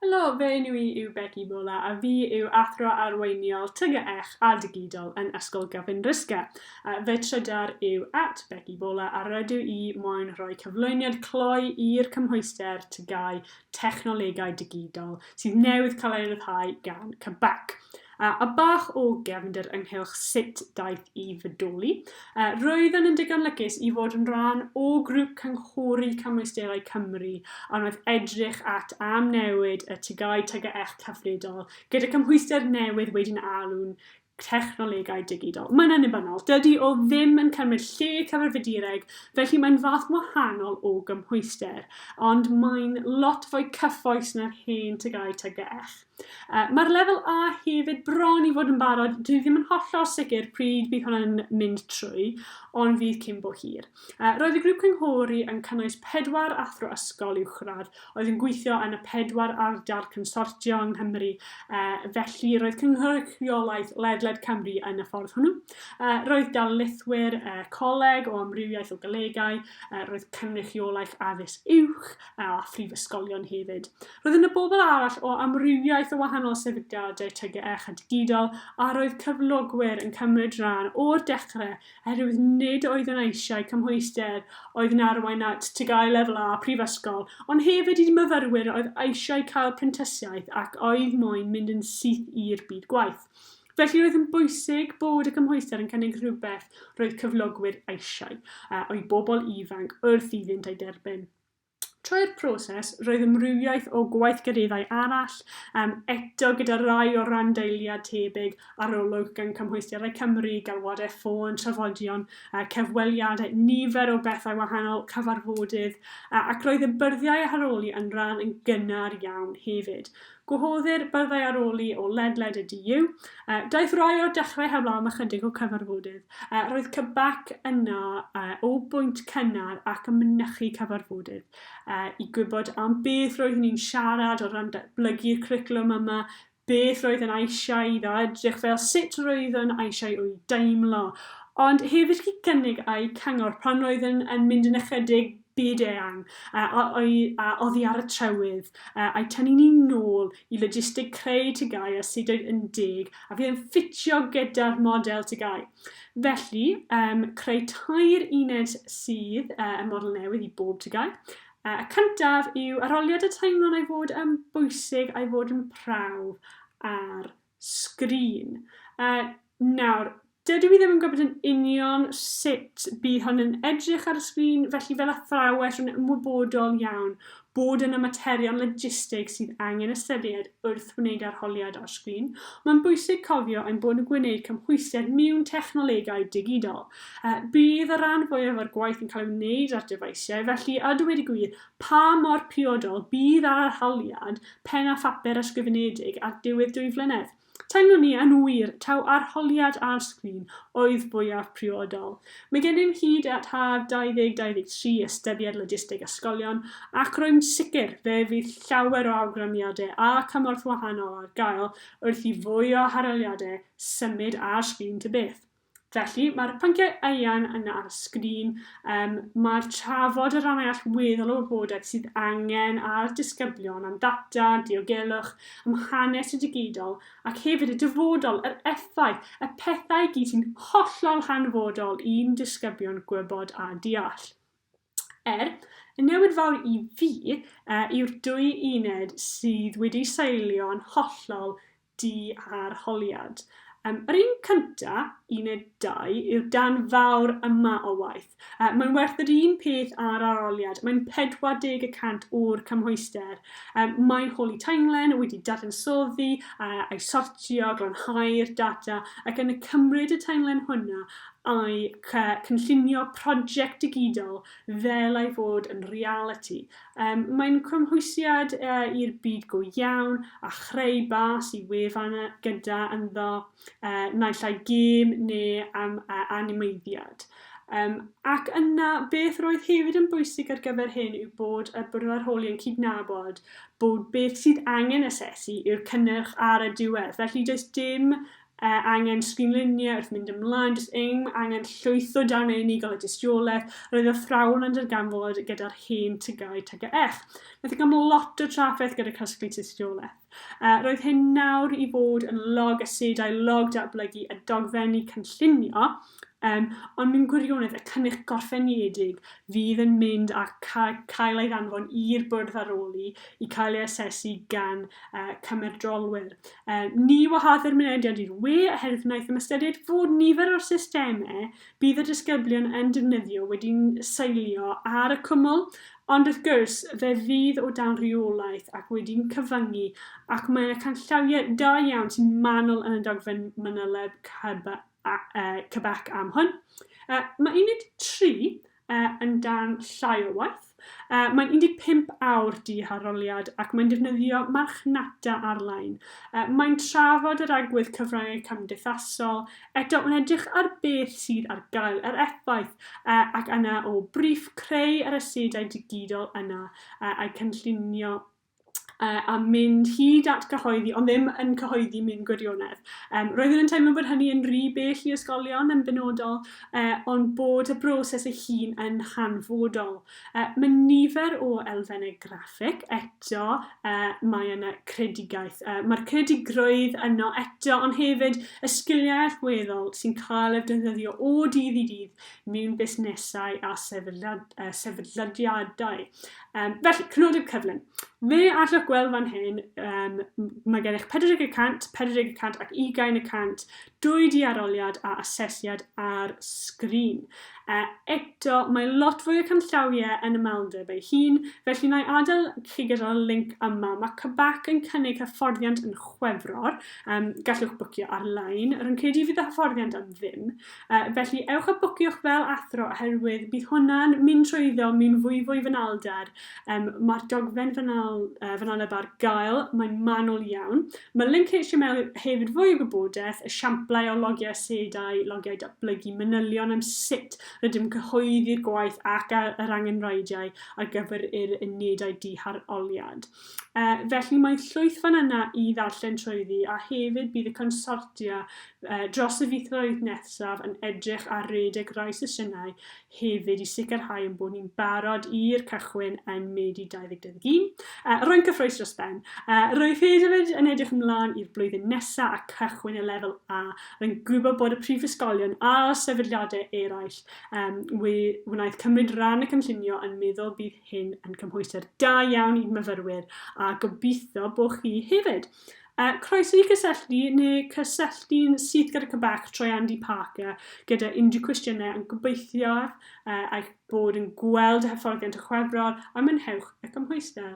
Helo, fe enw i yw Begi Bola a fi yw athro arweiniol TGEch a Digidol yn Ysgol Gavin Rysga. Fe trydar yw at Begi Bola a rydw i moyn rhoi cyflwyniad cloi i'r cymhwyster TGAU technolegau digidol sydd newydd cael ei ryddhau gan Quebec. A, a bach o gefnder ynghylch sut daeth i fydoli, a, roeddwn yn digon lygus i fod yn rhan o grŵp cynghori cymwysterau Cymru a wnaeth edrych at am newid y tygau tygaech cyfredol gyda cymhwyster newydd wedi'n alw'n technolegau digidol. Mae'n annibynnol. Dydy o ddim yn cymryd lle cyfarfydureg, felly mae'n fath wahanol o gymhwyster, ond mae'n lot fwy cyffoes na'r hen tygau tygell. Uh, Mae'r lefel A hefyd bron i fod yn barod, dwi ddim yn hollol sicr pryd bydd hwnna'n mynd trwy, ond fydd cyn bo hir. Roedd y grŵp cynghori yn cynnwys pedwar athro ysgol uwchradd oedd yn gweithio yn y pedwar ardal consortio yng Nghymru, felly roedd cynrychiolaeth ledled Cymru yn y ffordd hwnnw. Roedd darlithwyr coleg o amrywiaeth o golegau, roedd cynrychiolaeth addysg uwch a phrifysgolion hefyd. Roedd yna bobl arall o amrywiaeth o wahanol sefydliadau TGEH a digidol a roedd cyflogwyr yn cymryd rhan o'r dechrau oherwydd nid oedd yna eisiau cymhwyster oedd yn arwain at TGAU Lefel A prifysgol, ond hefyd i myfyrwyr oedd eisiau cael prentisiaeth ac oedd moyn mynd yn syth i'r byd gwaith. Felly roedd yn bwysig bod y cymhwyster yn cynnig rhywbeth roedd cyflogwyr eisiau, a oedd bobl ifanc wrth iddynt ei derbyn. Trwy'r proses, roedd amrywiaeth o gweithgareddau arall, um, eto gyda rai o randdeiliad tebyg, arolwg gan Cymhwysterau Cymru, galwadau ffôn, trafodion, uh, cyfweliadau, nifer o bethau wahanol, cyfarfodydd, uh, ac roedd y byrddiau a haroli yn rhan yn gynnar iawn hefyd. Gwahoddir byrddau aroli o ledled y DU. Daeth rai o'r dechrau heblaw am ychydig o cyfarfodydd. Roedd cybac yna o bwynt cynnar ac yn mynychu cyfarfodydd i gwybod am beth roeddwn ni'n siarad o ran datblygu'r cwricwlwm yma, beth roedd yn eisiau iddo edrych fel, sut roeddwn eisiau o'i deimlo, ond hefyd i gynnig a'u cyngor pan roeddwn yn mynd yn ychydig byd-eang a oddi ar y trywydd, a'i tynnu ni nôl i logistig creu TGAU a sut oedd yn deg a fydd yn ffitio gyda'r model TGAU. Felly, creu tair uned sydd y model newydd i bob TGAU. Y cyntaf yw arholiad y teimlwn ei fod yn bwysig a'i fod yn prawf ar sgrin. Yy, nawr, dydw i ddim yn gwybod yn union sut bydd hon yn edrych ar y sgrin, felly fel athrawes rwy'n ymwybodol iawn bod yna materion logistig sydd angen ystyried wrth wneud arholiad ar sgrin. Mae'n bwysig cofio ein bod yn gwneud cymhwyster mewn technolegau digidol. Yy, bydd y rhan fwyaf o'r gwaith yn cael ei wneud ar dyfeisiau, felly a dweud y gwir, Pa mor briodol bydd arholiad pen a phapur ysgrifenedig ar diwedd dwy flynedd? Teimlwn i, yn wir, taw arholiad ar sgrin oedd fwyaf priodol. Mae gennym hyd at haf 2023 ystyried logisteg ysgolion, ac rwy'n sicr fe fydd llawer o awgrymiadau a chymorth wahanol ar gael wrth i fwy o harholiadau symud ar sgrin ta beth. Felly, mae'r pynciau eang yna ar y sgrin, um, mae'r trafod y rannau allweddol o wybodaeth sydd angen a'r disgyblion am ddata, diogelwch, am hanes y digidol ac hefyd y dyfodol, yr effaith, y pethau gyd sy'n hollol hanfodol i'n disgyblion gwybod a deall. Er, y newid fawr i fi uh, yw'r dwy uned sydd wedi seilio'n hollol di ar holiad. Um, yr un cynta, uned 2, yw'r dan fawr yma o waith. Uh, mae'n werth yr un peth ar aroliad. Mae'n 40 y cant o'r cymhwyster. Um, mae Holy Timeline wedi dadansoddi uh, a'i sortio, glanhau'r data ac yn y cymryd y timeline hwnna i gynllunio prosiect digidol fel ei fod yn realiti. Mae'n cymhwysiad i'r byd go iawn a chreu bas i wefan gyda ynddo naill ai gêm neu animeiddiad. Ac yna, beth roedd hefyd yn bwysig ar gyfer hyn yw bod y Bwrdd Arholi yn cydnabod bod beth sydd angen asesu yw'r cynnyrch ar y diwedd, felly does dim A angen sgrinluniau wrth mynd ymlaen, does dim angen llwytho dan ei unigol y dystiolaeth, roedd y athrawon yn darganfod gyda'r hen tygau TGF. Wnaeth yn cael lot o trafferth gyda casglu tystiolaeth. A roedd hyn nawr i fod yn log asedau, log datblygu a dogfenni cynllunio, Yym, ond mewn gwirionedd, y cynnyrch gorffenedig fydd yn mynd a ca- cael ei ddanfon i'r bwrdd ar ôl i i cael ei asesu gan uh, cymedrolwyr. Uh, ni wahaddir mynediad i'r we oherwydd wnaeth ystyried fod nifer o'r systemau bydd y disgyblion yn defnyddio wedi'n seilio ar y cwmwl, ond wrth gwrs, fe fydd o dan rheolaeth ac wedi'n cyfyngu, ac mae yna canllawiau da iawn sy'n manwl yn y dogfen manyleb Quebec am hwn. Mae uned 3 yn dan llai o waith. Mae'n 15 awr di ar roliad ac mae'n defnyddio marchnata ar-lein. Mae'n trafod yr agwedd cyfryngau cymdeithasol, eto mae'n edrych ar beth sydd ar gael, yr effaith, ac yna o briff creu yr asedau digidol yna a'i cynllunio uh, a mynd hyd at gyhoeddi, ond ddim yn cyhoeddi mewn gwirionedd. Um, roeddwn yn teimlo bod hynny yn rhy bell i ysgolion yn benodol, uh, ond bod y broses ei hun yn hanfodol. Uh, mae nifer o elfennau graffig, eto uh, mae yna credigaeth. Uh, Mae'r credigrwydd yno eto, ond hefyd y sgiliau allweddol sy'n cael eu defnyddio o dydd i dydd mewn busnesau a sefydliadau. Um, felly, cynodeb cyflym. Fe allwch gweld fan hyn, um, mae gennych 40 y cant, 40 y cant ac 20 y cant dwy di aroliad a asesiad ar sgrin. Uh, eto, mae lot fwy o canllawiau yn y maldeb ei hun, felly na i adael chi gyda'r link yma. Mae Cybac yn cynnig hyfforddiant yn chwefror, um, gallwch bwcio ar-lein. Rwy'n credu fydd y hyfforddiant am ddim, Yy, felly ewch a bwciwch fel athro oherwydd bydd hwnna'n mynd trwy iddo mi'n fwyfwy fanylder. Yym, mae'r dogfen fanal, uh, fanyleb ar gael, mae'n manwl iawn. Mae link HTML hefyd fwy o gwybodaeth, esiamplau o logiau asedau, logiau datblygu, manylion am sut rydym yn cyhoeddi'r gwaith ac yr angenrheidiau ar gyfer yr unedau diharoliad. Yy, felly mae llwyth fan yna i ddarllen trwyddi a hefyd bydd y consortia yy dros y fithflwydd nesaf yn edrych ar redeg rai sesiynau hefyd i sicrhau ein bod ni'n barod i'r cychwyn yn Medi 2021. Yy, rwy'n cyffrous dros ben. Yy, rwyf hefyd yn edrych ymlaen i'r blwyddyn nesaf a cychwyn y lefel A. Rwy'n gwybod bod y prifysgolion a sefydliadau eraill yym we- wnaeth cymryd rhan y cynllunio yn meddwl bydd hyn yn cymhwysder da iawn i'n myfyrwyr a gobeithio bod chi hefyd. Uh, croeso i cysylltu neu cysylltu'n syth gyda Quebec trwy Andy Parker gyda unrhyw cwestiynau yn gobeithio uh, eich bod yn gweld hyfforddiant y chwefror a mynhewch y cymhwyster.